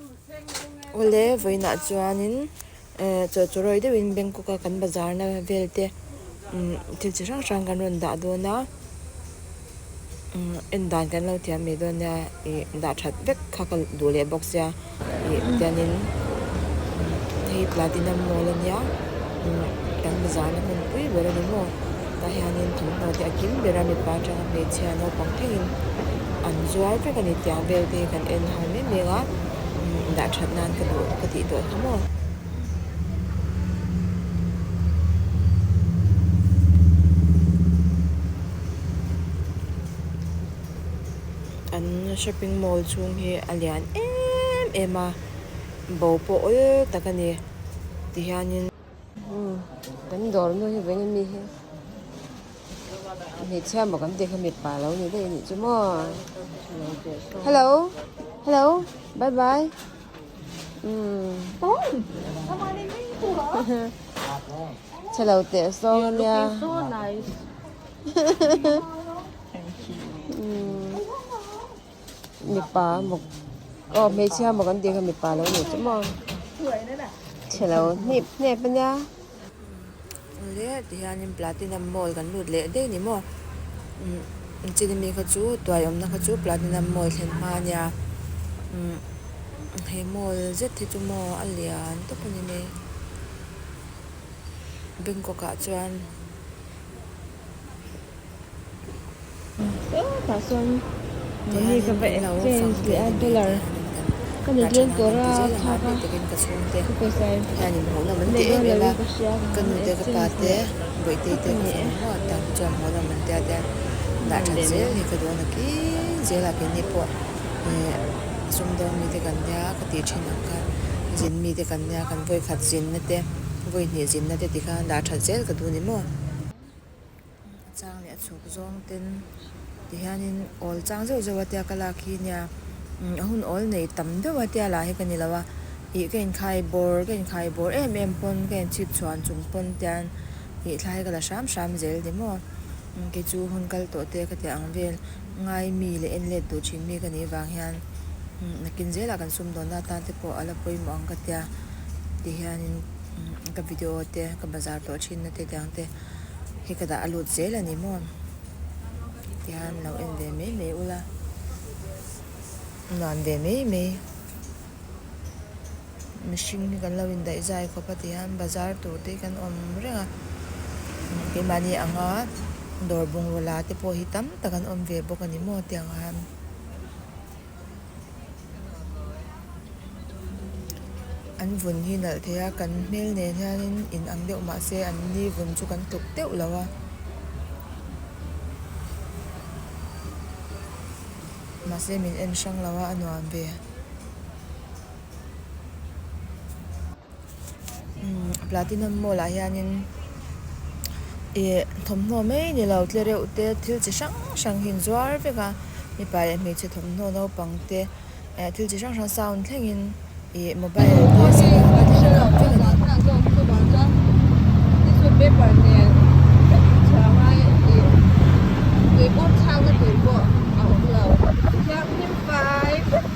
Awle, vawiinah chuanin chawhchawhrawi deuhin Bangkok-a kan bazarna vel te thil chi hrang hrang kan rawn dah dawn a, en dan kan lo thiam mai dawn nia ih dah that vek kha ka duh leh bawk sia ih tianin hei tlati nawm nawl ania kan bazarna hmunpui ber a ni maw. Tah hianin tun hnu te a kim ber a, mipa atanga hmeichhia naupang thengin an zuar vek a ni tih ang vel te hi kan en hau mem mem a, dah that nan ka duh ka tih duah hle maw. An shopping mall chhung hi a lian em em a, bo pawh awl tak a ni ti hianin. Kan dawr nu hi veng ami hi hmeichhia maw kan tih kha mipa lo ni daih anih chu maw hello hello bye bye um chhelo teh sawng ania um mipa mawk aw hmeichhia mawk an tih kha mipa lo ni chu maw chhelo hnip hnep a nia awle ti hianin platinum mall kan lut leh daih ni maw umm chini mi kha chu tuai awmna kha chu platinum mall thlen hma a nia umm he mall zet hi chu maw a lian tawp a ni mai bangkok ah chuan-- Hetah chuan money ka va exchange leh a dollar ka ni tlem tawh a chhuak a ka pawisa in ka hriat loh in ka hria ka exchange leh a ka ni e mahni leh. a chang leh a chhuk zawng ten ti hian in awl chang zeuh zeuh a tia ka lak hi nia a hun awl nei tam deuh a tia lah hi ka ni lo a ih ka inkhai bawr ka inkhai bawr em em pawn ka in chhip chhuan chung pawn te an ih thlai ka la hram hram zel ni maw kei chu hun kal tawh te ka tih ang vel ngai mi leh en let duh thin mi ka nih vang hian nakin zela kan sum dawn na atan te pawh a la pawimawh ang ka tia ti hian in. umm ka video te ka bazar tawh thin na te dang te hi ka dah a lut zel a ni maw tihian lo en ve mai mai ula nuam ve mai mai mihring hi kan lo in daih zai khawp a tihian bazar tur te hi kan awm reng a keimahni anga dawr bungraw la te pawh hi tam tak an awm ve bawk a ni maw tiang khan. an vun hi nalh theih a kan hmel nen hianin in ang deuh mah se an ni vun chu kan tluk deuh lo a mahse min en hrang lo a a nuam ve. Platinum Mall ah hian in ih thawmhnaw mai ni lo tle reuh te thil chi hrang hrang hi inzuar vek a mipa leh hmeichhe thawmhnaw naupang te eh thil chi hrang hrang sound thleng in ih mobile te --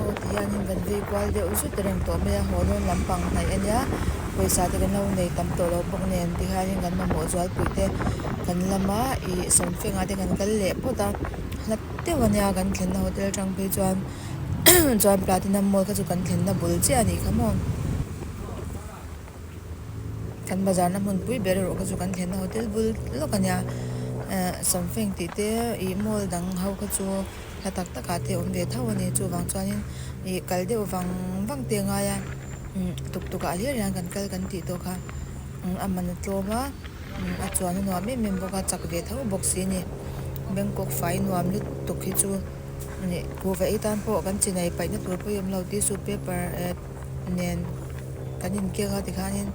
Aw ti hianin kan vei kual deuh zut a reng tawh mai a, haw dawn lampang hnaih a nia pawisa te kan lo nei tam tawh lo bawk nen ti hianin kan mamawh zualpui te kan lama ih sawmfengah te kan kal leh phawt a hlat deuh a nia kan thlenna hotel atang phei chuan chuan platinum mall kha chu kan thlenna bul chiah a ni kha maw kan bazar na hmun pui ber erawh kha chu kan thlenna hotel bul lawk a nia ahh sawmfeng tih te ih mall dang ho kha chu-- hla tak tak ah te awm ve tho a ni chuvang chuanin ih kal deuh vang vang te a ngai a umm tuk tuk ah hian an kan kal kan tih tawh kha umm aman a tlawm a umm a chuan a nuam em em bawk a chak ve tho bawk si a ni bangkok fai nuam lutuk hi chu ih huhvei atan pawh kan chinai paihna tur pawh hi a awm lo tih a su paper eh-- nen kan inkeng a tikhanin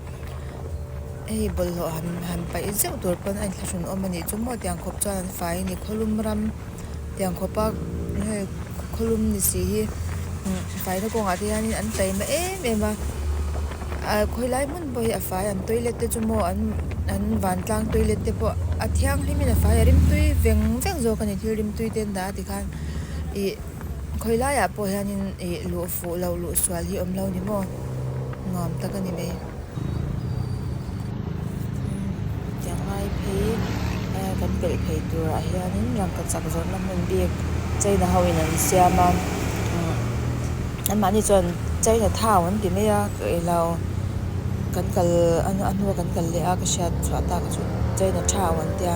hei bawlhhlawh han han paih zeuh tur pawh a inthlahrunawm a nih chu maw tiang khawp chuan an fai a ni khawihlum ram tiang khawpa hei khawihlum ni si hi umm faina kawngah te hian an chei mawi em em a ah khawilai hmun pawh hi a fai an toilet te chu maw an an vantlang toilet te pawh a thianghlim in a fai a rimtui veng veng zawk a ni thil rimtui te an dah a tikhan ih-- Khawi laiah pawh hianin ih luh fuh loh luh sual hi awm lo ni maw? Nuam tak a ni mai. Umm tia ngai phei a kan peih phei turah hianin rangkachak zawrhna hmun bik China hoin an siam a, umm anmahni chuan China thau an ti mai a, ih loh kan kal a hnu a kan kal leh a ka hriat chhuah tak a chu China thau an tia.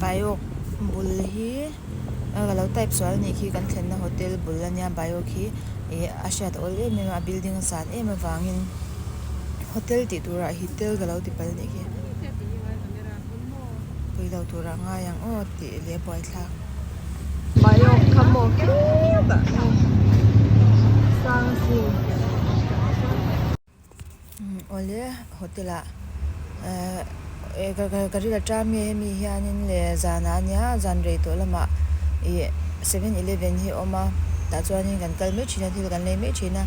Baiawk bul hi aa lo type sual anih khi kan thlenna hotel bul a nia baiawk hi ih a hriat awl em em a a building a san em avangin hotel tih tura hitel ka lo ti pal anih khi pawilo turah a ngai ang aw. Tih leh buaithlak. Baiawk kha maw kep ah hi sang a si. Awle hotel ah ka rilh a ṭam nge hemi hianin le zan ah ania zan rei tawh lamah i seven eleven hi a awm a tah chuanin kan kal mai ṭhin a thil kan lei mai ṭhin a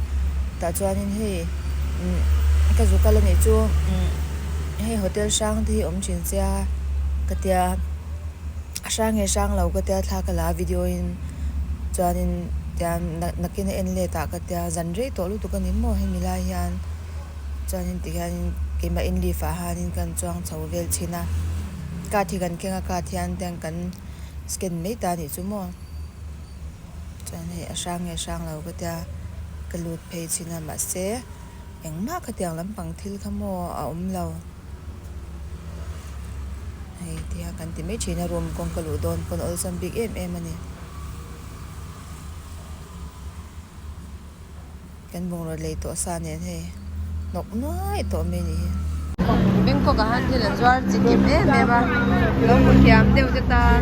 tah chuanin hei ka zu kal anih chu hei hotel hrang te hi awm ṭhin sia ka tia. Hrang nge hrang lo ka tia thla ka la video in chuanin tian nakin a en let ah ka tia zan rei tawh lutuk a ni maw hemi lai hian chuanin ti hianin keimah in live ah hianin ka rawn chuang chho vel thin a card hi kan keng a card hian tian kan scan mai ta nih chu maw chuan hei a hrang nge hrang lo ka tia ka lut phei thin a mahse. Engmah khatiang lampang thil kha maw a awm lo hei tia kan ti mai thin a room kawng ka luh dawn pawn awlsam bik em em a ni kan bungraw lei tawh sa nen hei hnawk nuai tawh mai ni hi. Bangkok ah han thil an zuar chi kim em em a, lo hmu thiam deuh te tan.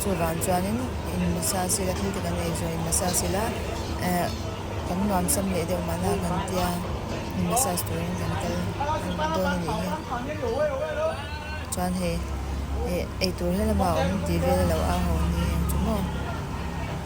Chuvang chuanin in hmasa sila thil te kan nei zawh in massage sila ehh kan nuam sam leh deuh mahna ah kan tia in massage turin kan kal dawn a nih hi chuan hei eitur hlama awm tih vel a lo au ho ania chu maw.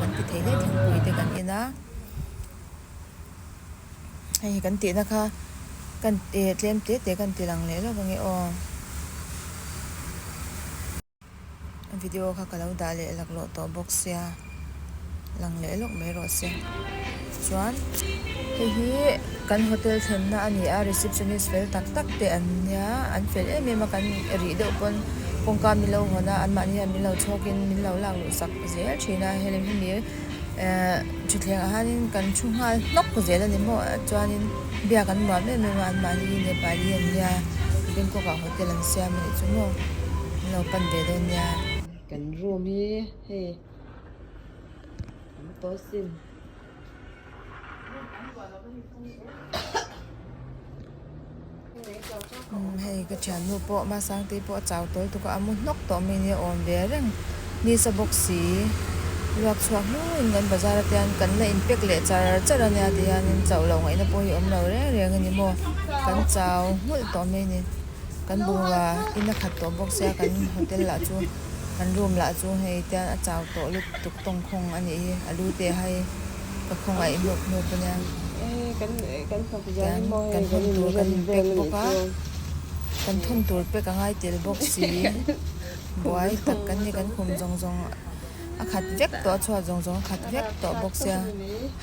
Kan ti thei hle thingpui te kan en a, hei kan tihna kha kan eh tlem hle teh kan ti lang leh lo va nge aw. Video kha ka lo dah leh lak lawh tawh bawk sia, lang leh lawk mai rawh se. chuan hei hi kan hotel thlenna a ni a receptionist fel tak tak te an nia an fel em em a kan rih deuh pawn kawngka min lo hawn a anmahni hian min lo chhawk in min lo lak luh sak zel thin a hei lem hemi ehh thutthleng ah hian in kan thu nghal hnawk zel a ni maw chuan in biak an nuam em em a an mahni hi nepali an nia bangkok ah hotel an siam a nih chu maw min lo pan ve dawn nia kan room hi hei an pawl sin. Hei ka thiannu pawh hma sangte hi pawh a chau tawi tuk a, a mu hnawk tawh mai ni a awm ve a reng ni sa bawk si. Luak chhuak hnuin kan bazar ate hian kan la inpek leh char char a nia tih hianin chauh loh ngaihna pawh hi awm lo reng reng a ni maw. Kan chau nghulh tawh mai a ni. Kan bungrua ina khat tawh bawk sia kan hotel ah chu. Kan room lah chu hei tial a chau tawh lup tuk tawng khawng a nih hi, a lu te hai ka khawnga i hnup hnup a nia. Kan thawn tur kan inpack bawk a, kan thawn tur pack a ngai tel bawk siin buai tak kan ni kan khum zawng zawng a khat vek tawh a chhuat zawng zawng a khat vek tawh bawk sia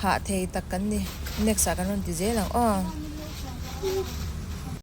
hah thei tak kan ni next ah kan rawn ti zel ang aw.